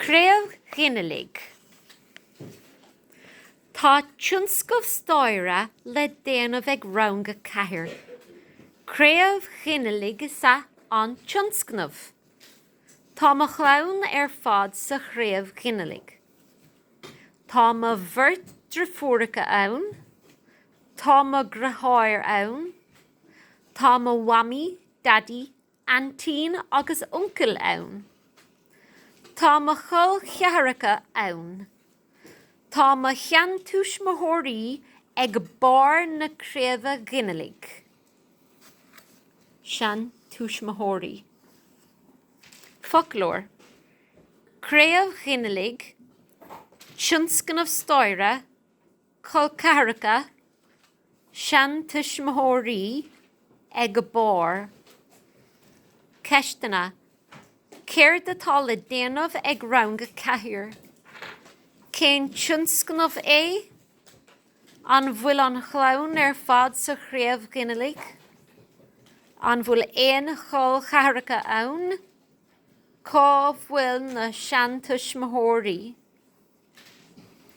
Craobh Ghinealaigh Tá tionscnamh staire le déanamh ag Rang a Ceathair. Craobh ghinealaigh is ea an tionscnamh. Tá mo chlann ar fad sa chraobh ghinealaigh. Tá mo bheirt deirfiúracha ann, tá mo dheartháir ann, tá mo mhamaí, daidí aintín agus uncail ann. Tá mo chol cheathracha ann. Tá mo sheantuismitheoirí ag barr na craoibhe ghinealaigh. seantuismitheoirí. Foclóir, craobh ghinealaigh, tionscnamh staire, Col ceathracha, seantuismitheoirí ag barr ceisteanna, céard atá le déanamh ag rang a ceathair? Cén tionscnamh é? An bhfuil an chlann ar fad sa chraobh ghinealaigh? An bhfuil aon chol cheathracha ann? Cá bhfuil na seantuismitheoirí?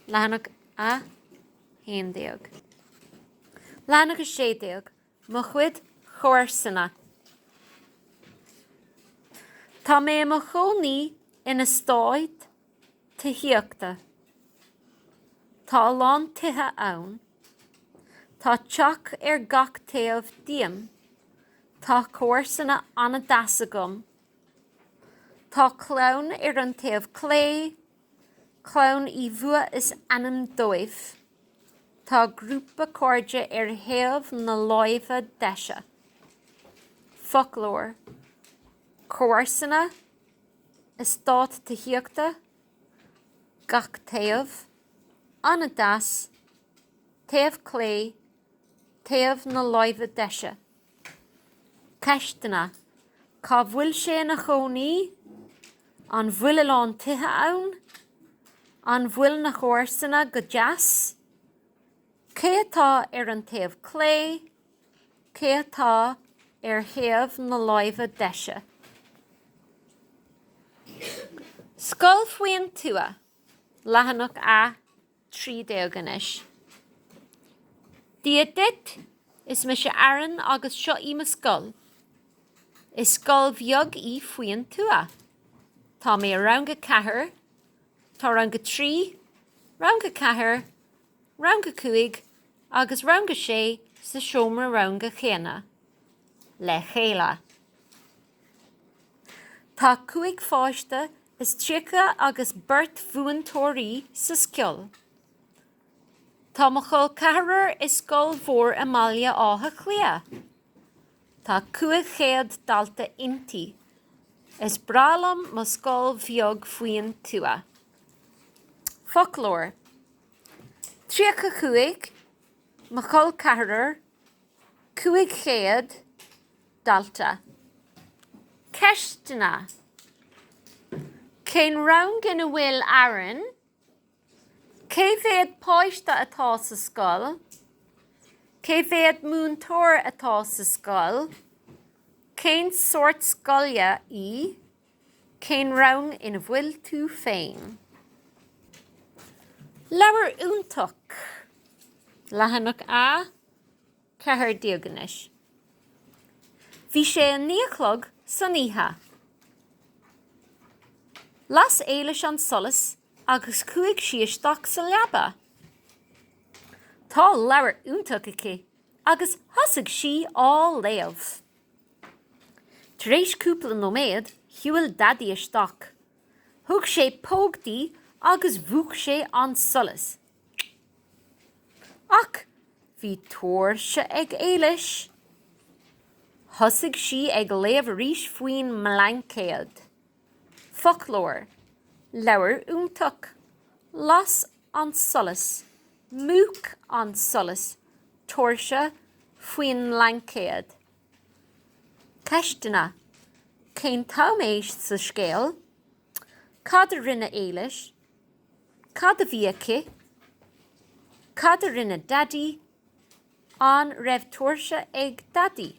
Leathanach 11 Leathanach 16, Mo chuid comharsana Tá mé i mo chónaí in eastát tithíochta. Tá a lán tithe ann. Tá teach ar gach taobh díom. Tá comharsana an-deas agam. Tá clann ar an taobh clé Clann Uí Bhua is ainm dóibh. Tá grúpa cairde ar thaobh na láimhe deise. Foclóir. Comharsana, eastát tithíochta, gach taobh, an-deas, taobh clé, taobh na láimhe deise. Ceisteanna, Cá bhfuil sé ina chónaí? An bhfuil a lán tithe ann? An bhfuil na comharsana go deas? Cé atá ar an taobh clé? Cé atá ar thaobh na láimhe deise? Scoil faoin tuath, leathanach a. 13 anois. Dia duit, is mise Aaron agus seo í mo scoil. Is scoil bheag í faoin tuath. Tá mé i rang a ceathair, tá rang a trí, rang a ceathair, rang a cúig agus rang a sé sa seomra ranga chéanna le chéile. Tá cúig pháiste is tríocha agus beirt mhúinteoirí sa scoil. Tá mo chol ceathrair i scoil mhór i mBaile Átha Cliath. Tá cúig chéad dalta inti. Is breá liom mo scoil bheag faoin tuath. Foclóir. tríocha cúig, mo chol ceathrair. 500 dalta. Ceisteanna, Cén rang ina bhfuil Aaron? Cé mhéad páiste atá sa scoil? Cé mhéad múinteoir atá sa scoil? Cén sórt scoile í? Cén rang ina bhfuil tú féin? Leabhar iontach! Leathanach a 14 anois. Bhí sé a naoi a chlog san oíche. Las Éilis an solas agus chuaigh sí isteach sa leaba. Tá leabhar iontach aici agus thosaigh sí á léamh. Tar éis cúpla nóiméad, shiúil Daidí isteach. Thug sé póg di agus mhúch sé an solas. Ach bhí tóirse ag Éilis. Thosaigh sí ag léamh arís faoin mblaincéad. Foclóir, leabhar iontach, las an solas, múch an solas, tóirse faoin mblaincéad. Ceisteanna, Cén t-am é sa scéal? Cad a rinne Éilis? Cad a bhí aici? Cad a rinne Daidí? An raibh tóirse ag Daidí?